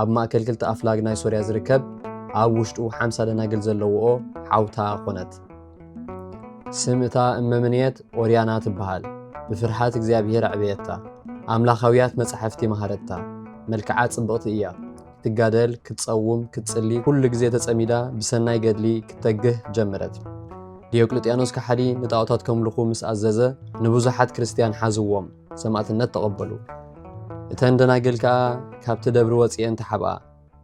ኣብ ማእከል ክልተ ኣፍላግ ናይ ሶርያ ዝርከብ ኣብ ውሽጡ ሓምሳ ደናግል ዘለዎኦ ሓውታ ዀነት። ስም እታ እመምንየት ኦርያና ትበሃል። ብፍርሃት እግዚኣብሄር ኣዕበየታ። ኣምላኻውያት መጻሕፍቲ መሃረታ። መልክዓ ጽብቕቲ እያ። ክትጋደል፣ ክትጸውም፣ ክትጽሊ፣ ኩሉ ግዜ ተጸሚዳ ብሰናይ ገድሊ ክትተግህ ጀመረት። ዲዮቅልጥያኖስ ከሓዲ ንጣኦታት ከምልኹ ምስ ኣዘዘ ንብዙሓት ክርስትያን ሓዝዎም። ሰማእትነት ተቐበሉ። እተን ደናግል ከኣ ካብቲ ደብሪ ወጺኤን ተሓብኣ።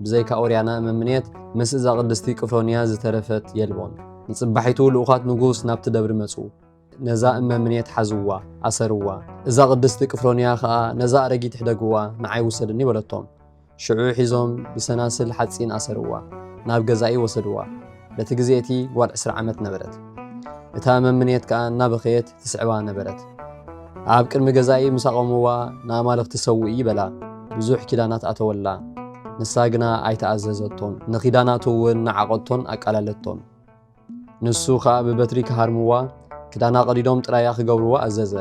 ብዘይካ ኦርያና እመምኔት ምስ እዛ ቅድስቲ ቅፍሮንያ ዝተረፈት የልቦን። ንጽባሒቱ ልኡኻት ንጉስ ናብቲ ደብሪ መጹ። ነዛ እመምኔት ሓዝዋ፣ ኣሰርዋ። እዛ ቅድስቲ ቅፍሮንያ ከኣ ነዛ ኣረጊት ሕደግዋ፣ ንዓይ ውሰድኒ በለቶም። ሽዑ ሒዞም ብሰናስል ሓጺን ኣሰርዋ፣ ናብ ገዛኢ ወሰድዋ። በቲ ግዜ እቲ ጓል ዕስራ ዓመት ነበረት። እታ መምንየት ከኣ እናበኸየት ትስዕባ ነበረት። ኣብ ቅድሚ ገዛኢ ምስ ኣቖምዋ ንኣማልኽቲ ሰውኢ በላ፣ ብዙሕ ኪዳናት ኣተወላ። ንሳ ግና ኣይተኣዘዘቶን፣ ንኪዳናቱ እውን ነዓቐቶን ኣቃለለቶን። ንሱ ኸኣ ብበትሪ ክሃርምዋ፣ ክዳና ቐዲዶም ጥራያ ኺገብርዋ ኣዘዘ።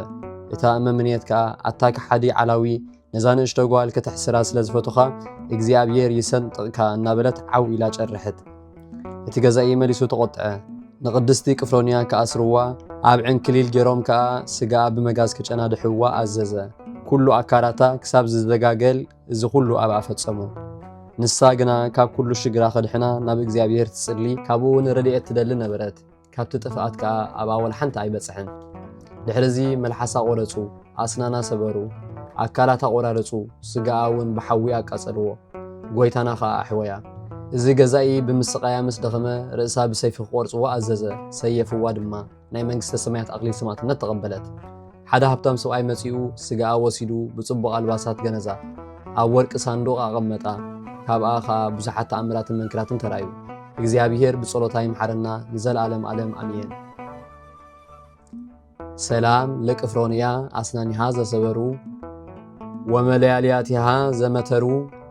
እታ እመ ምኔት ከኣ፣ ኣታ ከሓዲ ዓላዊ፣ ነዛ ንእሽቶ ጓል ከተሕስራ ስለ ዝፈቶኻ፣ እግዚኣብሄር ይሰንጥቕካ እናበለት ዓው ኢላ ጨርሐት። እቲ ገዛኢ መሊሱ ተቖጥዐ። ንቕድስቲ ቅፍሮንያ ክኣስርዋ፣ ኣብ ዕንክሊል ገይሮም ከኣ ስጋኣ ብመጋዝ ከጨናድሕዋ ኣዘዘ። ኩሉ ኣካላታ ክሳብ ዝደጋገል እዚ ኩሉ ኣብኣ ፈጸሙ። ንሳ ግና ካብ ኩሉ ሽግራ ከድሕና ናብ እግዚኣብሔር ትጽሊ ካብኡ እውን ረድኤት ትደሊ ነበረት። ካብቲ ጥፍኣት ከኣ ኣብኣ ወላ ሓንቲ ኣይበጽሐን። ድሕርዚ መልሓሳ ቆረጹ፣ ኣስናና ሰበሩ፣ ኣካላታ ቆራረጹ፣ ስጋኣ እውን ብሓዊ ኣቃጸልዎ። ጎይታና ከኣ ኣሕወያ። እዚ ገዛኢ ብምስቃያ ምስ ደኸመ ርእሳ ብሰይፊ ክቆርጽዎ ኣዘዘ፣ ሰየፍዋ ድማ። ናይ መንግስተ ሰማያት ኣኽሊል ሰማዕትነት ተቐበለት። ሓደ ሃብታም ሰብኣይ መጺኡ ስጋኣ ወሲዱ ብጽቡቕ ኣልባሳት ገነዛ፣ ኣብ ወርቂ ሳንዱቕ ኣቐመጣ። ካብኣ ኸኣ ብዙሓት ተኣምራትን መንክራትን ተራእዩ። እግዚኣብሔር ብጸሎታ ይምሓረና ንዘለዓለም ዓለም ኣሜን። ሰላም ለቅፍሮንያ ኣስናኒሃ ዘሰበሩ ወመለያልያቲሃ ዘመተሩ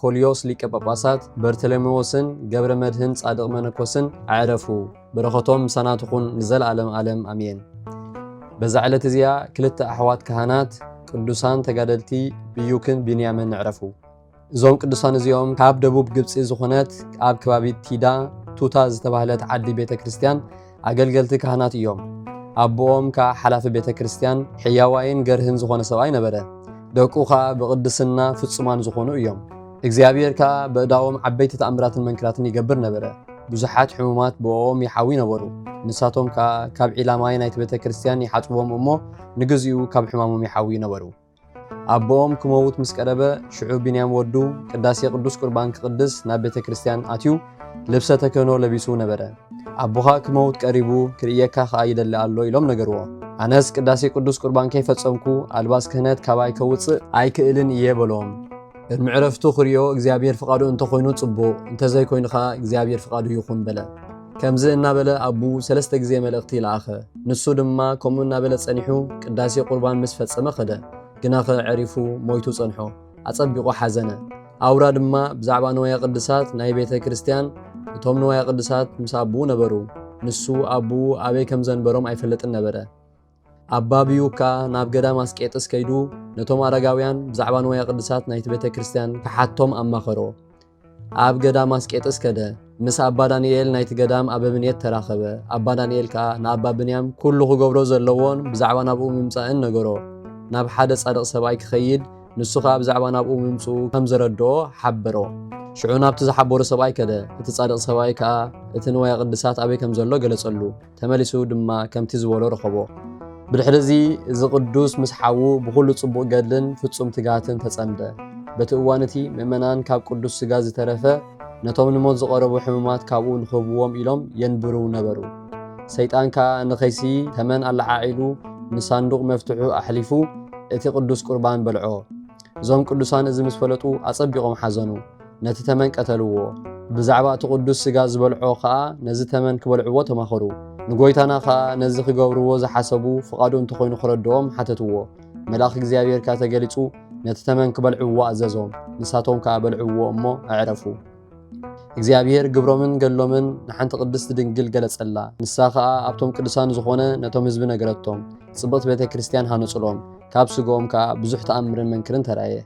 ኮልዮስ ሊቀ ጳጳሳት በርተለሜዎስን ገብረ መድህን ጻድቕ መነኮስን ኣዕረፉ። በረኸቶም ምሳና ትኹን ንዘለዓለም ዓለም ኣሜን። በዛ ዕለት እዚኣ ክልተ ኣሕዋት ካህናት ቅዱሳን ተጋደልቲ ብዩክን ቢንያምን ኣዕረፉ። እዞም ቅዱሳን እዚኦም ካብ ደቡብ ግብፂ ዝኾነት ኣብ ከባቢ ቲዳ ቱታ ዝተባህለት ዓዲ ቤተ ክርስቲያን ኣገልገልቲ ካህናት እዮም። ኣቦኦም ከኣ ሓላፊ ቤተ ክርስቲያን ሕያዋይን ገርህን ዝኾነ ሰብኣይ ነበረ። ደቁ ከኣ ብቕድስና ፍጹማን ዝኾኑ እዮም። እግዚኣብሔር ከኣ በእዳዎም ዓበይቲ ተኣምራትን መንክራትን ይገብር ነበረ። ብዙሓት ሕሙማት ብእኦም ይሓዊ ነበሩ። ንሳቶም ከኣ ካብ ዒላ ማይ ናይቲ ቤተ ክርስቲያን ይሓጽብዎም እሞ ንግዚኡ ካብ ሕማሞም ይሓውዩ ነበሩ። ኣቦኦም ክመውት ምስ ቀረበ፣ ሽዑ ቢንያም ወዱ ቅዳሴ ቅዱስ ቁርባን ክቕድስ ናብ ቤተ ክርስቲያን ኣትዩ ልብሰ ተክህኖ ለቢሱ ነበረ። ኣቦኻ ክመውት ቀሪቡ ክርእየካ ከኣ ይደሊ ኣሎ ኢሎም ነገርዎ። ኣነስ ቅዳሴ ቅዱስ ቁርባን ከይፈጸምኩ ኣልባስ ክህነት ካባይ ከውጽእ ኣይክእልን እየ በሎም። ቅድሚ ዕረፍቱ ክሪኦ እግዚኣብሔር ፍቓዱ እንተኾይኑ ጽቡቕ፣ እንተዘይኮይኑ ከኣ እግዚኣብሔር ፍቓዱ ይኹን በለ። ከምዚ እናበለ ኣቡ ሰለስተ ግዜ መልእኽቲ ለኣኸ። ንሱ ድማ ከምኡ እናበለ ጸኒሑ ቅዳሴ ቁርባን ምስ ፈጸመ ከደ። ግናኸ ዐሪፉ ሞይቱ ጸንሖ። ኣጸቢቑ ሓዘነ። ኣውራ ድማ ብዛዕባ ንዋየ ቅድሳት ናይ ቤተ ክርስቲያን እቶም ንዋየ ቅድሳት ምስ ኣቡኡ ነበሩ። ንሱ ኣቡኡ ኣበይ ከም ዘንበሮም ኣይፈልጥን ነበረ። ኣባ ብዩክ ከኣ ናብ ገዳም ኣስቄጥስ ከይዱ ነቶም ኣረጋውያን ብዛዕባ ንዋየ ቅድሳት ናይቲ ቤተ ክርስቲያን ክሓቶም ኣማኸሮ። ኣብ ገዳም ኣስቄጥስ ከደ። ምስ ኣባ ዳንኤል ናይቲ ገዳም ኣበምኔት ተራኸበ። ኣባ ዳንኤል ከኣ ንኣባ ብንያም ኩሉ ክገብሮ ዘለዎን ብዛዕባ ናብኡ ምምጻእን ነገሮ። ናብ ሓደ ጻድቕ ሰብኣይ ክኸይድ ንሱ ከኣ ብዛዕባ ናብኡ ምምጽኡ ከም ዘረድኦ ሓበሮ። ሽዑ ናብቲ ዝሓበሮ ሰብኣይ ከደ። እቲ ጻድቕ ሰብኣይ ከኣ እቲ ንዋየ ቅድሳት ኣበይ ከም ዘሎ ገለጸሉ። ተመሊሱ ድማ ከምቲ ዝበሎ ረኸቦ። ብድሕርዚ እዚ ቅዱስ ምስ ሓዉ ብዅሉ ጽቡቕ ገድልን ፍጹም ትግሃትን ተጸምደ። በቲ እዋን እቲ ምእመናን ካብ ቅዱስ ሥጋ ዝተረፈ ነቶም ንሞት ዝቐረቡ ሕሙማት ካብኡ ንኽህብዎም ኢሎም የንብሩ ነበሩ። ሰይጣን ከኣ ንኸይሲ ተመን ኣለዓዒሉ ንሳንዱቕ መፍትሑ ኣሕሊፉ እቲ ቅዱስ ቍርባን በልዖ። እዞም ቅዱሳን እዚ ምስ ፈለጡ ኣጸቢቖም ሓዘኑ። ነቲ ተመን ቀተልዎ። ብዛዕባ እቲ ቅዱስ ሥጋ ዝበልዖ ኸኣ ነዚ ተመን ክበልዕዎ ተማኸሩ። ንጎይታና ኸኣ ነዚ ክገብርዎ ዝሓሰቡ ፍቓዱ እንተኾይኑ ክረድኦም ሓተትዎ። መልኣኽ እግዚኣብሔር ከኣ ተገሊጹ ነቲ ተመን ክበልዕዎ ኣዘዞም። ንሳቶም ከኣ በልዕዎ እሞ ኣዕረፉ። እግዚኣብሔር ግብሮምን ገድሎምን ንሓንቲ ቅድስት ድንግል ገለጸላ። ንሳ ኸኣ ኣብቶም ቅዱሳን ዝኾነ ነቶም ሕዝቢ ነገረቶም። ጽብቕቲ ቤተ ክርስቲያን ሃነጹሎም። ካብ ሥግኦም ከኣ ብዙኅ ተኣምርን መንክርን ተራእየ።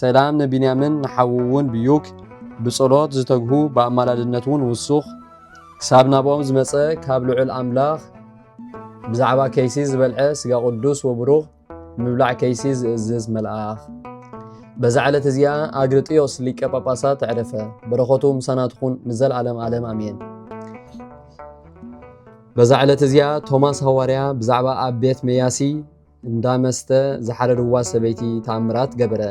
ሰላም ንቢንያምን ንሓዉ እውን ብዩክ ብጸሎት ዝተግሁ ብኣማላድነት እውን ውሱኽ ክሳብ ናብኦም ዝመጸ ካብ ልዑል ኣምላኽ ብዛዕባ ከይሲ ዝበልዐ ስጋ ቅዱስ ወብሩኽ ምብላዕ ከይሲ ዝእዝዝ መልኣኽ በዛ ዕለት እዚኣ ኣግርጥዮስ ሊቀ ጳጳሳት ተዕረፈ። በረኸቱ ምሳና ትኹን ንዘለዓለም ዓለም ኣሜን። በዛ ዕለት እዚኣ ቶማስ ሃዋርያ ብዛዕባ ኣብ ቤት መያሲ እንዳ መስተ ዝሓረድዋ ሰበይቲ ተኣምራት ገበረ።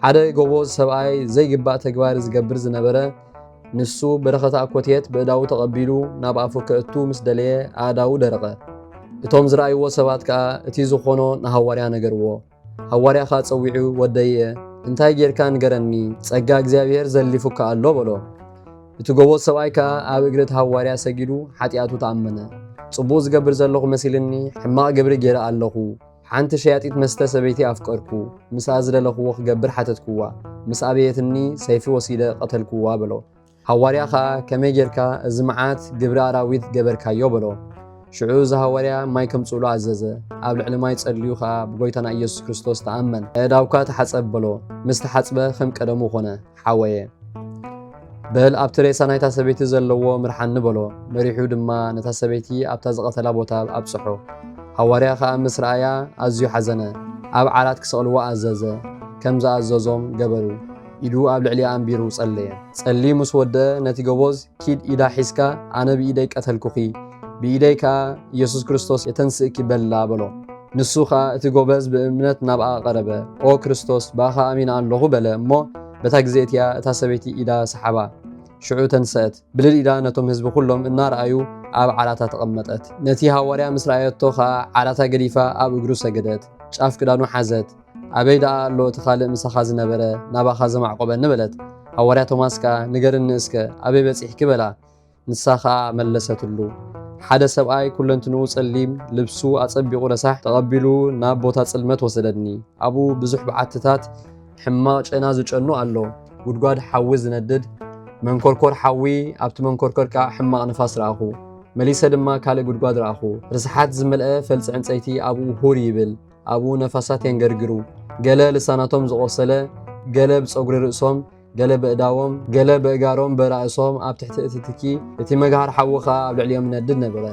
ሓደ ጎቦዝ ሰብኣይ ዘይግባእ ተግባር ዝገብር ዝነበረ ንሱ በረኸት ኣኮቴት ብእዳዉ ተቐቢሉ ናብ ኣፉ ከእቱ ምስ ደለየ ኣእዳዉ ደረቐ። እቶም ዝረኣይዎ ሰባት ከኣ እቲ ዝኾኖ ንሃዋርያ ነገርዎ። ሃዋርያ ከኣ ጸዊዑ ወደይ'የ እንታይ ጌርካ ንገረኒ ጸጋ እግዚኣብሔር ዘሊፉካ ኣሎ በሎ። እቲ ጎቦጥ ሰብኣይ ከኣ ኣብ እግሪ እቲ ሃዋርያ ሰጊዱ ሓጢኣቱ ተኣመነ። ጽቡቕ ዝገብር ዘለኹ መሲልኒ ሕማቕ ግብሪ ገይረ ኣለኹ። ሓንቲ ሸያጢት መስተ ሰበይቲ ኣፍቀርኩ። ምስኣ ዝደለኽዎ ክገብር ሓተትክዋ። ምስ ኣበየትኒ ሰይፊ ወሲደ ቀተልክዋ በሎ። ሃዋርያ ከኣ ከመይ ጌርካ እዚ መዓት ግብሪ ኣራዊት ገበርካዮ በሎ። ሽዑ እዚ ሃዋርያ ማይ ከምጽእሉ ኣዘዘ። ኣብ ልዕሊ ማይ ጸልዩ ከኣ ብጎይታና ኢየሱስ ክርስቶስ ተኣመን። ኣእዳውካ ተሓጸብ በሎ። ምስ ተሓጽበ ከም ቀደሙ ኮነ። ሓወየ በል ኣብቲ ሬሳ ናይታ ሰበይቲ ዘለዎ ምርሓኒ በሎ። መሪሑ ድማ ነታ ሰበይቲ ኣብታ ዝቐተላ ቦታ ኣብጽሖ። ሃዋርያ ከኣ ምስ ረኣያ ኣዝዩ ሓዘነ፣ ኣብ ዓራት ክሰቕልዎ ኣዘዘ፣ ከም ዝኣዘዞም ገበሩ። ኢዱ ኣብ ልዕሊኣ ኣንቢሩ ጸለየ። ጸልዩ ምስ ወድአ ነቲ ገቦዝ ኪድ ኢዳ ሒዝካ ኣነ ብኢደይ ቀተልኩኺ፣ ብኢደይ ከኣ ኢየሱስ ክርስቶስ የተንስእኪ በላ በሎ። ንሱ ኸኣ እቲ ጎበዝ ብእምነት ናብኣ ቐረበ፣ ኦ ክርስቶስ፣ ብኣኻ ኣሚነ ኣሎኹ በለ እሞ፣ በታ ግዜ እቲኣ እታ ሰበይቲ ኢዳ ሰሓባ። ሽዑ ተንሰአት፣ ብልል ኢላ ነቶም ህዝቢ ዅሎም እናረኣዩ ኣብ ዓራታ ተቐመጠት። ነቲ ሃዋርያ ምስ ረኣየቶ ኸኣ ዓራታ ገዲፋ ኣብ እግሩ ሰገደት፣ ጫፍ ክዳኑ ሓዘት፣ ኣበይ ደኣ ኣሎ እቲ ኻልእ ምሳኻ ዝነበረ፣ ናባኻ ዘማዕቈበኒ በለት። ሃዋርያ ቶማስ ከኣ ንገርኒ እስከ፣ ኣበይ በጺሕኪ በላ። ንሳ ኸኣ መለሰትሉ፣ ሓደ ሰብኣይ ኵለንትንኡ ጸሊም፣ ልብሱ ኣጸቢቑ ረሳሕ፣ ተቐቢሉ ናብ ቦታ ጽልመት ወሰደኒ። ኣብኡ ብዙሕ በዓትታት ሕማቕ ጨና ዝጨኑ ኣሎ፣ ጕድጓድ ሓዊ ዝነድድ፣ መንኰርኰር ሓዊ፣ ኣብቲ መንኰርኰር ከኣ ሕማቕ ንፋስ ረኣኹ። መሊሰ ድማ ካልእ ጕድጓድ ረኣኹ፣ ርስሓት ዝመልአ ፈልጺ ዕንጸይቲ ኣብኡ ሁር ይብል፣ ኣብኡ ነፋሳት የንገርግሩ፣ ገለ ልሳናቶም ዝቖሰለ፣ ገለ ብጸጕሪ ርእሶም፣ ገለ በእዳዎም ገለ በእጋሮም በራእሶም ኣብ ትሕቲ እቲ ትኪ እቲ መግሃር ሓዊ ከኣ ኣብ ልዕሊኦም ይነድድ ነበረ።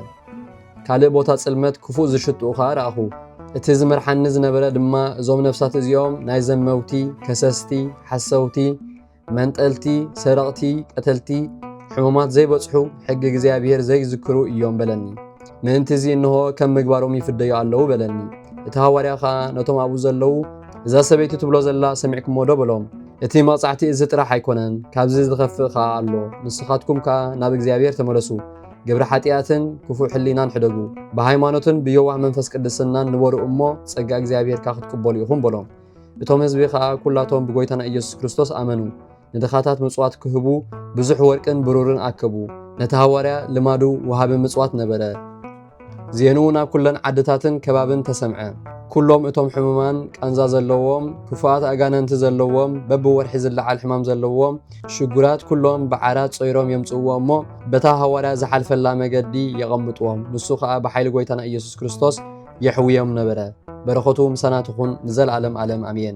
ካልእ ቦታ ጽልመት ክፉእ ዝሽትኡ ከኣ ረኣኹ። እቲ ዝመርሓኒ ዝነበረ ድማ እዞም ነፍሳት እዚኦም ናይ ዘመውቲ፣ ከሰስቲ፣ ሓሰውቲ፣ መንጠልቲ፣ ሰረቕቲ፣ ቀተልቲ፣ ሕሙማት ዘይበጽሑ፣ ሕጊ እግዚኣብሔር ዘይዝክሩ እዮም በለኒ። ምእንቲ እዚ እንሆ ከም ምግባሮም ይፍደዩ ኣለዉ በለኒ። እቲ ሃዋርያ ኸኣ ነቶም ኣብኡ ዘለዉ እዛ ሰበይቲ ትብሎ ዘላ ሰሚዕኩሞ ዶ በሎም እቲ መቕጻዕቲ እዚ ጥራሕ ኣይኮነን ካብዚ ዝኸፍእ ኸኣ ኣሎ ንስኻትኩም ከኣ ናብ እግዚኣብሔር ተመለሱ ግብሪ ሓጢኣትን ክፉእ ሕሊናን ሕደጉ ብሃይማኖትን ብየዋህ መንፈስ ቅድስናን ንበሩ እሞ ጸጋ እግዚኣብሔርካ ክትቅበሉ ኢኹም በሎም እቶም ህዝቢ ኸኣ ኵላቶም ብጐይታና ኢየሱስ ክርስቶስ ኣመኑ ንድኻታት ምጽዋት ክህቡ ብዙሕ ወርቅን ብሩርን ኣከቡ። ነቲ ሃዋርያ ልማዱ ወሃቢ ምጽዋት ነበረ። ዜንኡ ናብ ኩለን ዓድታትን ከባብን ተሰምዐ። ኩሎም እቶም ሕሙማን፣ ቃንዛ ዘለዎም፣ ክፉኣት ኣጋንንቲ ዘለዎም፣ በብወርሒ ዝለዓል ሕማም ዘለዎም፣ ሽጉራት ኩሎም ብዓራት ጾይሮም የምጽእዎ እሞ በታ ሃዋርያ ዝሓልፈላ መገዲ የቐምጥዎም። ንሱ ከኣ ብሓይሊ ጎይታና ኢየሱስ ክርስቶስ የሕውዮም ነበረ። በረኸቱ ምሳና ትኹን ንዘለዓለም ዓለም ኣሜን።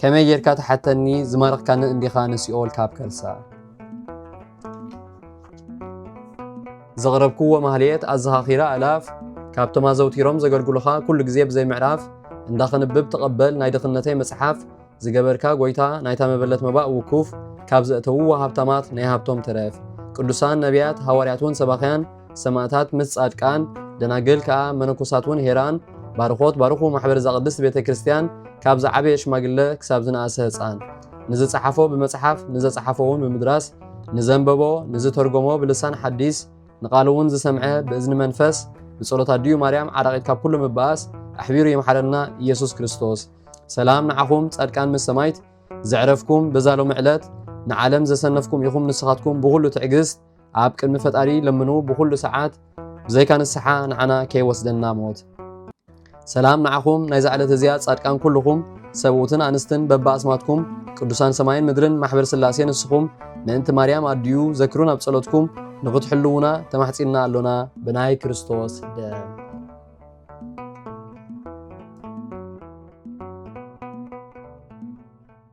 ከመይ ጌርካ ትሓተኒ ዝማረኽካኒ እንዲኻ ንሲኦል ካብ ከርሳ ዘቕረብክዎ ማህልየት ኣዘኻኺራ ኣእላፍ ካብቶም ኣዘውቲሮም ዘገልግሉኻ ኩሉ ግዜ ብዘይ ምዕራፍ እንዳኽንብብ ተቐበል ናይ ድኽነተይ መጽሓፍ ዝገበርካ ጎይታ ናይታ መበለት መባእ ውኩፍ ካብ ዘእተውዎ ሃብታማት ናይ ሃብቶም ትረፍ ቅዱሳን ነቢያት ሃዋርያት እውን ሰባኽያን ሰማእታት ምስ ጻድቃን፣ ደናግል ከኣ መነኮሳት ውን ሄራን ባርኾት ባርኹ ማሕበር እዛ ቅድስት ቤተ ክርስቲያን ካብ ዝዓበየ ሽማግለ ክሳብ ዝነኣሰ ህጻን ንዝጸሓፎ ብመጽሓፍ ንዘጸሓፎ ውን ብምድራስ ንዘንበቦ ንዝተርጎሞ ብልሳን ሓዲስ ንቃሉ ውን ዝሰምዐ ብእዝኒ መንፈስ ብጸሎት ኣዲኡ ማርያም ዓራቂት ካብ ኩሉ ምባኣስ ኣሕቢሩ ይምሓረና ኢየሱስ ክርስቶስ። ሰላም ንዓኹም ጻድቃን ምስ ሰማይት ዘዕረፍኩም በዛ ሎሚ ዕለት ንዓለም ዘሰነፍኩም ኢኹም ንስኻትኩም ብኹሉ ትዕግስት ኣብ ቅድሚ ፈጣሪ ለምኑ ብኹሉ ሰዓት ብዘይካ ንስሓ ንዓና ከይወስደና ሞት። ሰላም ንዓኹም ናይዛ ዕለት እዚኣ ጻድቃን ኩልኹም ሰብኡትን ኣንስትን በብኣስማትኩም ቅዱሳን ሰማይን ምድርን ማሕበር ስላሴ ንስኹም ምእንቲ ማርያም ኣድዩ ዘክሩን ኣብ ጸሎትኩም ንኽትሕልውና ተማሕጺንና ኣሎና ብናይ ክርስቶስ ደም